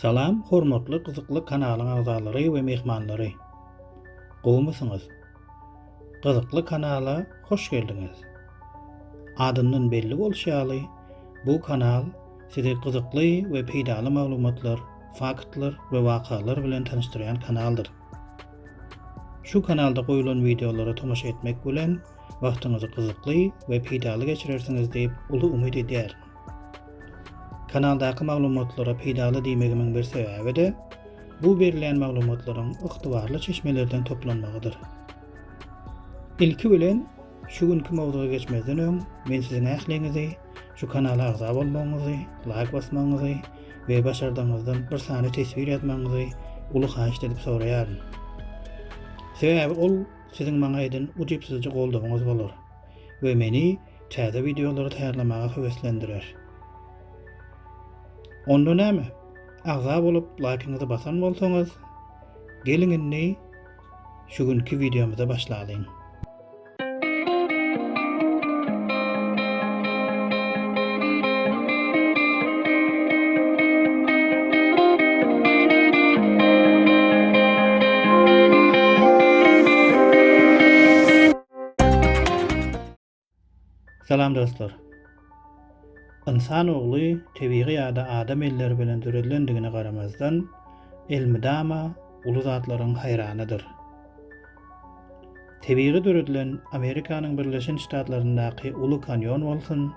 Salam hormatly gyzykly kanalyň agzalary we myhmanlary! Gowmysyňyz? Gyzykly kanala hoş geldiňiz! Adyndan belli bolşy ýaly, bu kanal sizi gyzykly we peýdaly maglumatlar, faktlar we wakalar bilen tanyşdyrýan kanaldyr. Şu kanalda goýulan wideolara tomaşa etmek bilen wagtyňyzy gyzykly we peýdaly geçirersiňiz diýip uly umyt edýärin! Kanaldaky maglumatlara peýdaly diýmegimiň bir sebäbi-de, bu berilýän maglumatlaryň ygtybarly çeşmelerden toplanmagydyr. Ilki bilen, şu günki mowzuga geçmezden öň, men siziň ähliňizi şu kanala agza bolmagyňyzy, laýk basmagyňyzy we başardygyňyzdan bir sany teswir ýazmagyňyzy uly haýyşt edip soraýaryn. Sebäbi ol siziň maňa eden ujypsyzja goldawyňyz bolar we meni täze wideolary taýýarlamaga höweslendirer. Onda näme? Agza bolup, laýkyňyzy basan bolsaňyz, geliň indi şu günki wideomyza başlalyň. Salam dostlar. Ynsan ogly tebigy ýa-da adam elleri bilen döredilendigine garamazdan, elmydama uly zatlaryň haýranydyr. Tebigy döredilen Amerikanyň Birleşen Ştatlaryndaky Uly Kanýon bolsun,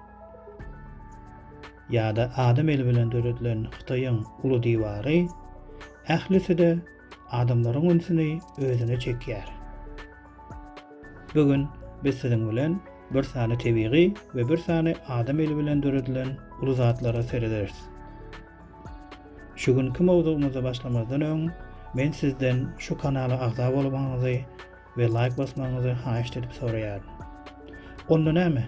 ýa-da adam eli bilen döredilen Hytaýyň Uly diwary, ählisi-de adamlaryň ünsüni özüne çekýär. Bu gün biz siziň bilen bir sany tebigy we bir sany adam eli bilen döredilen uly zatlara serederis. Şu günki mowzugymyza başlamazdan öň, men sizden şu kanala agza bolmagyňyzy we laýk basmagyňyzy haýyşt edip soraýaryn. Onda näme?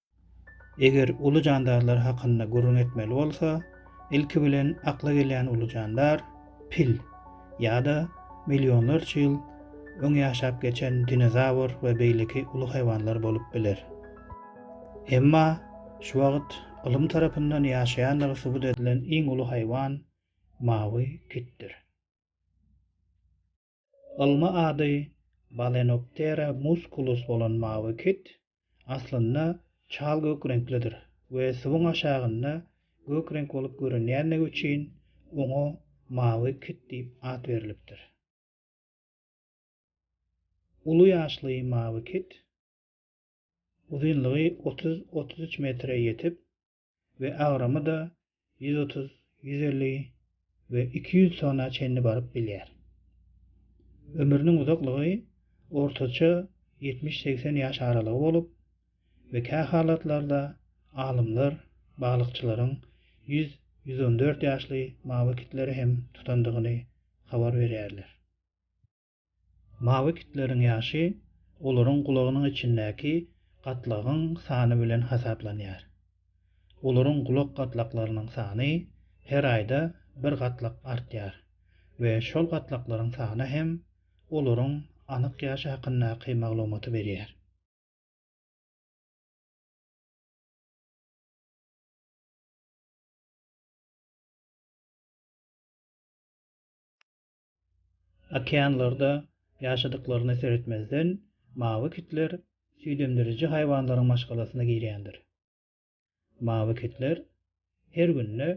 Eger uly jandarlar hakynda gürrüň etmeli bolsa, ilki bilen akla gelýän uly jandar, pil, ýa-da millionlarça ýyl öň ýaşap geçen dinozawr we beýleki uly haýwanlar bolup biler. Emma şu wagt ylym tarapyndan ýaşaýandygy subut edilen iň uly haýwan mawy kitdir. Ylmy ady Balenoptera musculus bolan mawy kit aslynda çal gök reňklidir we suwuň aşagynda gök reňk bolup görünýändigi üçin oňa mawy kit diýip at berlipdir. Uly ýaşly mawy kit uzynlygy otuz-otuz üç metre ýetip, we agramy-da ýüz otuz, ýüz elli we iki ýüz tona çenli baryp bilýär. Ömrüniň uzaklygy ortaça ýetmiş-segsen ýaş aralygy bolup we kähalatlarda alymlar balykçylaryň ýüz, ýüz on dört ýaşly mawy kitleri hem tutandygyny habar berýärler. Mawy kitleriň ýaşy olaryň gulagynyň içindäki gatlagyň sany bilen hasaplanýar. Olaryň gulak gatlaklarynyň sany her aýda bir gatlak artýar we şol gatlaklaryň sany hem olaryň anyk ýaşy hakyndaky maglumaty berýär. Okeanlarda ýaşadyklaryna seretmezden, mawy kitler süýdemdiriji haýwanlaryň maşgalasyna girýändir. Mawy kitler her günde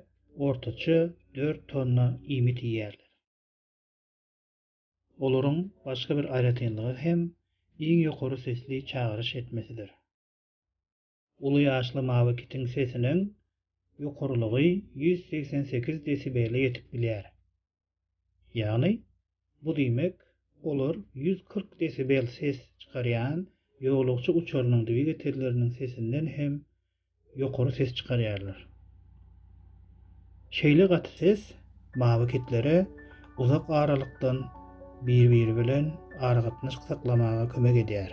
ortaça dört tonna iýmit iýýärler. Olaryň başga bir aýratynlygy hem iň ýokary sesli çagyryş etmesidir. Uly ýaşly mawy kitiň sesiniň ýokarylygy ýüz segsen sekiz desibele ýetip bilýär. Ýagny, bu diýmek, olar ýüz kyrk desibel ses çykarýan ýolagçy uçarynyň dwigatelleriniň sesinden hem ýokary ses çykarýarlar. Şeýle gaty ses mawy kitlere uzak aralykdan bir-biri bilen aragatnaşk saklamaga kömek edýär.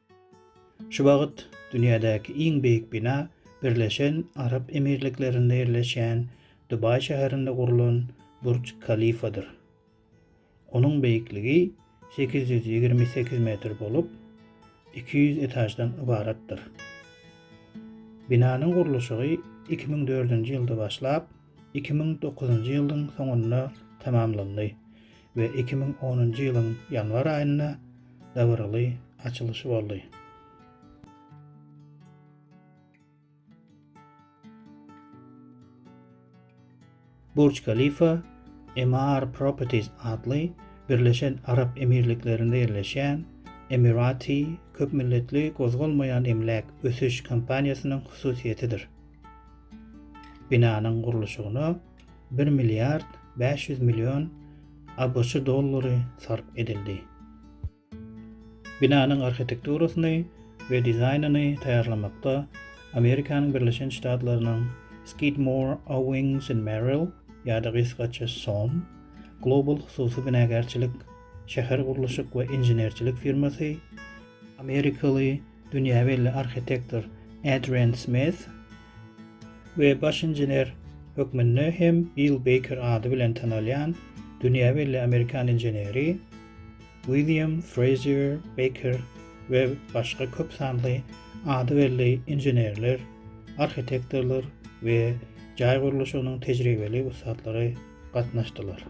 Şu wagt dünýädäki iň beýik bina Birleşen Arap Emirliklerinde ýerleşýän Dubaý şäherinde gurlan Burj Kalifadyr. Onuň beýikligi sekiz ýüz ýigrimi sekiz metr bolup, iki ýüz etaždan ybaratdyr. Binanyň gurluşygy iki müň dördünji ýylda başlap, iki müň dokuzynjy ýylyň soňunda tamamlandy we iki müň onunjy ýylyň ýanwar aýynda dabaraly açylyşy boldy. Burj Khalifa Emaar Properties atly Birleşen Arap Emirliklerinde ýerleşýän Emirati köpmilletli gozgalmaýan emläk ösüş kompaniýasynyň hususyýetidir. Binanyň gurluşygyna bir milliard bäş ýüz million ABŞ dollary sarp edildi. Binanyň arhitekturasyny we dizaýnyny taýýarlamakda Amerikanyň Birleşen Ştatlarynyň Skidmore, Owings and Merrill, ýa-da gysgaça som, Global hususy binagärçilik, şähergurluşyk we inženerçilik firmasy, amerikaly Dünýä belli arhitektor Adrian Smith we baş inžener hökmünde hem Bill Beýker ady bilen tanalýan dünýä belli amerikan inženeri William Frazier Beýker we başga köp sanly ady belli inženerler, arhitektorlar we jaý gurluşygynyň tejribeli ussatlary gatnaşdylar.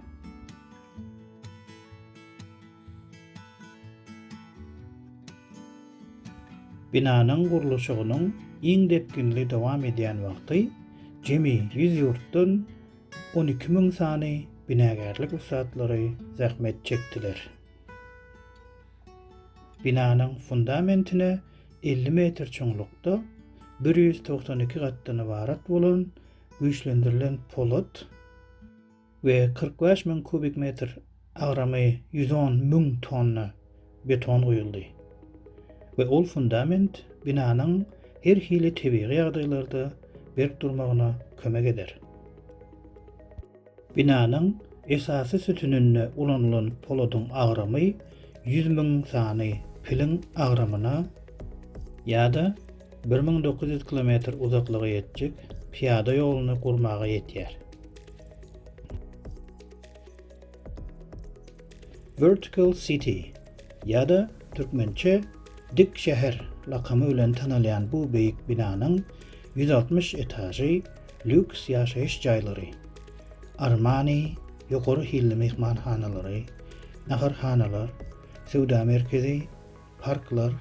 Binanyň gurluşygynyň iň depginli dowam edýän wagty jemi ýüz ýurtdan on iki müň sany binagärlik ussatlary zähmet çekdiler. Binanyň fundamentine elli metr çuňlukda bir ýüz togsan iki gatdan ybarat bolan güýçlendirilen polat, we kyrk bäş müň kubik metr, agramy ýüz on müň tonna beton guýuldy we ol fundament binanyň her hili tebigy ýagdaýlarda berk durmagyna kömek eder. Binanyň esasy sütüninde ulanylan poladyň agramy ýüz müň sany piliň agramyna ýa-da bir müň dokuz ýüz kilometr uzaklyga ýetjek pyýada ýoluny gurmaga ýetýär. Vertical City ýa-da türkmençe Dik şäher lakamy bilen tanalýan bu beýik binanyň ýüz altmyş etažy lýuks ýaşaýyş jaýlary, Armani, ýokary hilli myhmanhanalary, naharhanalar, söwda merkezi, parklar,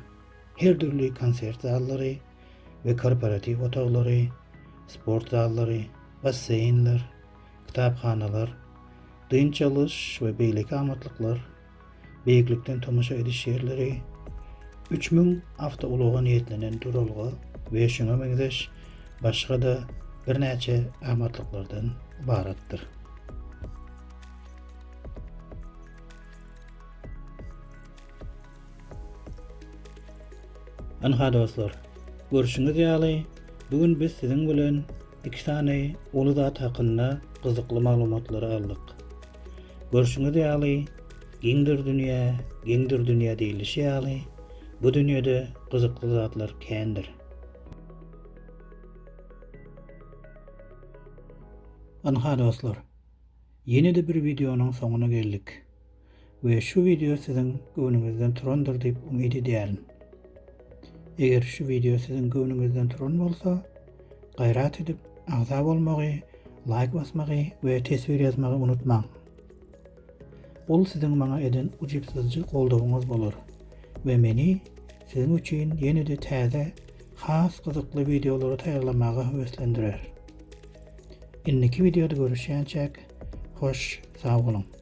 her dürli konsert zallary, we korporatiw otaglary, sport zallary, basseýnler, kitaphanalar, dynç alyş we beýleki amatlyklar, beýiklikden tomaşa ediş ýerleri, üç müň awtoulaga niýetlenen duralga we şuňa meňzeş başga-da birnäçe amatlyklardan ybaratdyr. Ynha dostlar, görşüňiz ýaly, bu gün biz siziň bilen iki sany uly zat hakynda gyzykly maglumatlary aldyk. Görşüňiz ýaly, giňdir dünýä, geňdir dünýä diýlişi ýaly, bu dünýede gyzykly zatlar kändir. Ynha dostlar, ýene-de bir wideonyň soňuna geldik. we şu wideo siziň göwnüňizden turandyr diýip umyt edýärin. Eger şu wideo siziň göwnüňizden turan bolsa, gaýrat edip agza bolmagy, laýk basmagy we teswir ýazmagy unutmaň. Ol siziň maňa eden ujypsyzjy goldawyňyz bolar we meni siziň üçin ýene-de täze, has gyzykly wideolary taýýarlamaga höweslendirer. Indiki wideoda görüşýänçäk, hoş sag boluň!